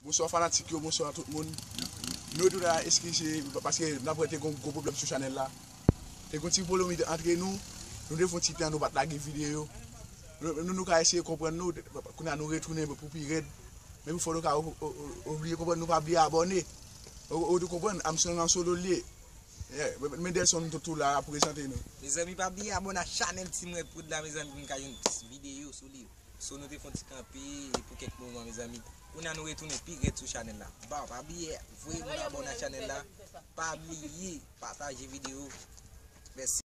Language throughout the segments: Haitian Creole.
Bonswa fanatik yo bonswa tout moun nou retounen la eskize paske nap wè te gon gwo pwoblèm sou chanèl la te gon ti polomit antre nou nou te fon ti tan nou pat lage video nou nou ka eseye konprann nou kounya nou retounen pou pi rèd men pou fò nou ka obliye konprann nou pa bliye abòne ou tou konprann Amstrong an solo liye yeah Mendelson tou la ap prezante nou. Mezanmi pa bliye abòne ak chanèl Team Red Prod la mezanmi pou nou ka jwenn plis video sou li. So nou te fon ti kanpe pou kèk moman mezanmi Kounya nou retounen pi rèd sou chanèl la Bon pa bliye voye moun abòne ak chanèl la Pa bliye pataje video Mèsi.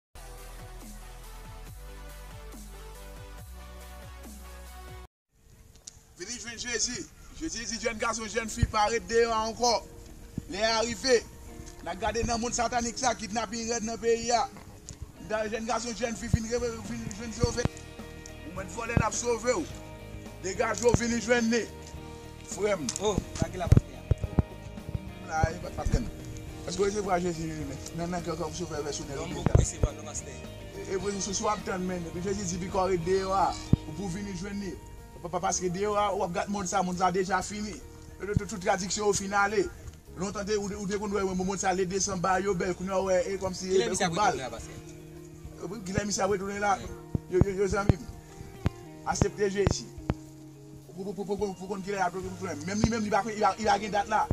Vini jwenn Jezi! Jezi di jèn gason, jèn fi pa ret deyò a ankò. Lè a rive. N a gade nan mond satanik sa, kidnaping rèd nan peyi a. Dayè jèn gason, jèn fi fin jwenn sove. Ou mèt vole l ap sove w. Degaje w vini jwenn li frè m. Oh, sa ki la pastè a? M la e pastè m. Èske w resevwa Jezi nan kè w kòm sovè pèsonèl ou deja? Don Bosco resevwa l non pastè. Epi sou sa w ap tann menm. Epi Jezi di pi kò ret deyò a pou w vini jwenn li. Paske deyò a ou ap gad mond sa, mond sa deja fini. Tout tradiksyon yo fin ale. Lontan ou te konn wè mond sa le desanm bagay yo bèl kounye a ou wè e kòmsi e bèl kout bal. Kilè misye ap retounen la paske yo zanmi m asepte Jezi pou konn kilè lap retounen menm li menm li pa gen dat la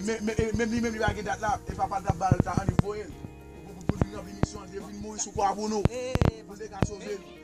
menm li menm li pa gen dat la e papa l tap bal tan an li voye l pou l vin ranpli misyon li te vin mouri sou kwa pou nou pou l te ka sove nou.